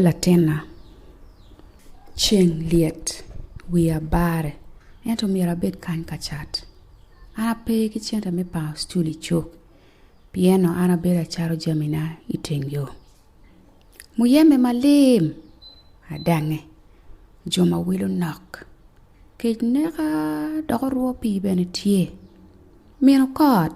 Latinna, ceng lyet wiya bare ento myero abed kany ka cat. An ape ki cente me pango cul i cuk pien-ni an abedo acato jamina i teng yo. Muyembe malim adangnge, jo ma wilo nok, kec neka dok orwo pii bene tye. Mino kot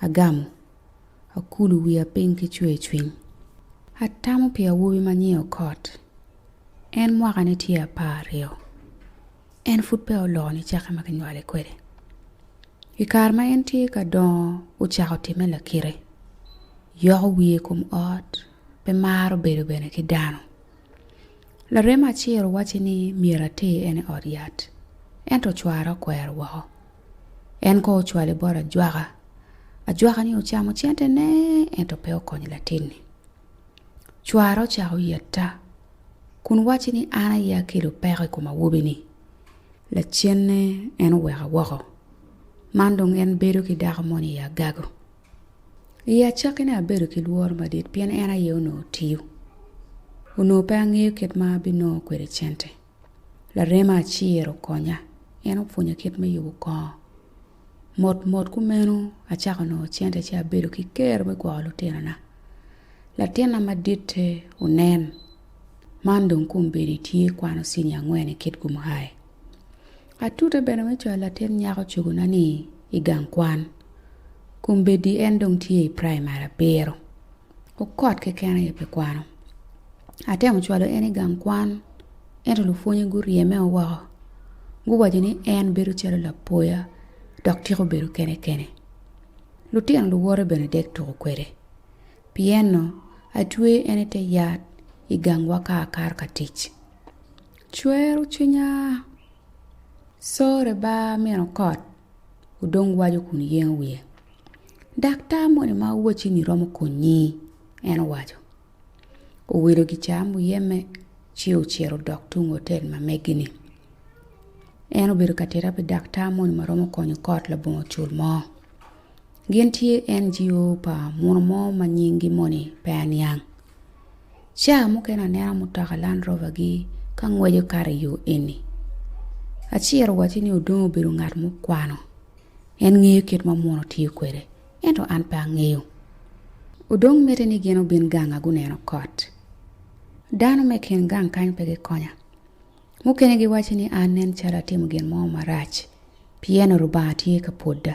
Agamo, akulu wiya piny ki cwercwiny. Atamo pi awobi ma nyinge Okot. En mwakane tye apar aryo. En pud peya oloko nicakke ma kinywale kwede. I kare ma en tye ka dongo ocako timme lakite. Yoko wiye i kom ot, pe maro bedo bene ki dano. Larem acel owacci ni myero ater en i ot yat, ento cware okwero woko. En kono ocwale bot ajwaka. Ajwaka-ni ocamo centene ento pe okonyo latin-ni. Cware ocako yetta kun wacce ni an aye akelo peko i kom awobi-ni. Lacenne en oweka woko. Man dong en bedo ki dako moni i agago. I acakkine abedo ki lworo madit pien en aye onongo tiyo. Onongo pe angeyo kit ma abinongo kwede cente. Larema acel okonya, en opwonya kit me yubo kongo. Mot mot kumeno acako nongo cente ci abedo ki ker me gwoko lutinona. Latinna maditte onen, man dong kombeddi tye kwano cinia angwen i Kitgum High. Atute bene me cwalo latin nyako cogonani i gang kwan. Kombeddi en dong tye i praimari abiro. Okot keken aye pi kwano. Atemo cwalo en i gang kwan, ento lupwonye guryeme o woko, guwaco ni en bedo calo lapoya dok tyeko bedo kene kene. Lutino luwote bene dek tuko kwede. Pieno, atweye en i te yat i gangwa ka akato ka tic. Cwero cwinya, sore ba min okot. odong waco kun yengo wiye. Daktar moni ma wacci-ni romo konyi, en owaco. Owilo gicaa muyeme ci ocito odok tung otel ma megi-ni. En obedo ka tita pi daktar moni ma romo konyo kot labongo cul mo. Gin tye NGO pa muno mo ma nyingi moni pe aniang. Ca mukene aneno mutoka Land Rover-gi ka ngweco kato i yo eni. Aciro owacci ni odong obedo ngat mukwano. En ngeyo kit ma muno tiyo kwede, ento an pe angeyo. Odong mitte ni gin obin ganga guneno kot. Dano me kin gang kany pe gikonya. Mukene giwacci ni an nen calo atimo gin mo marac, pien-ni Lubanga tye ka pwoda.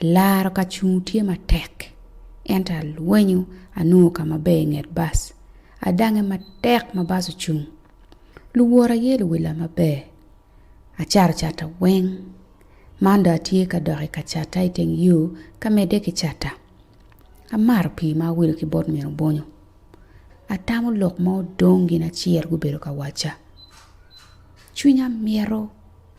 Laro ka cung tye matek ento alwenyo anongo ka maber i nget bas. Adangnge matek ma bas ocung. Luworo aye luwila maber. Acato catta weng. Man dong atye ka dok i ka catta i teng yo ka medde ki catta. Amato pii ma awido ki bot min obonyo. Atamo lok ma odong gin acel gubedo ka wacca. Cwinya mito.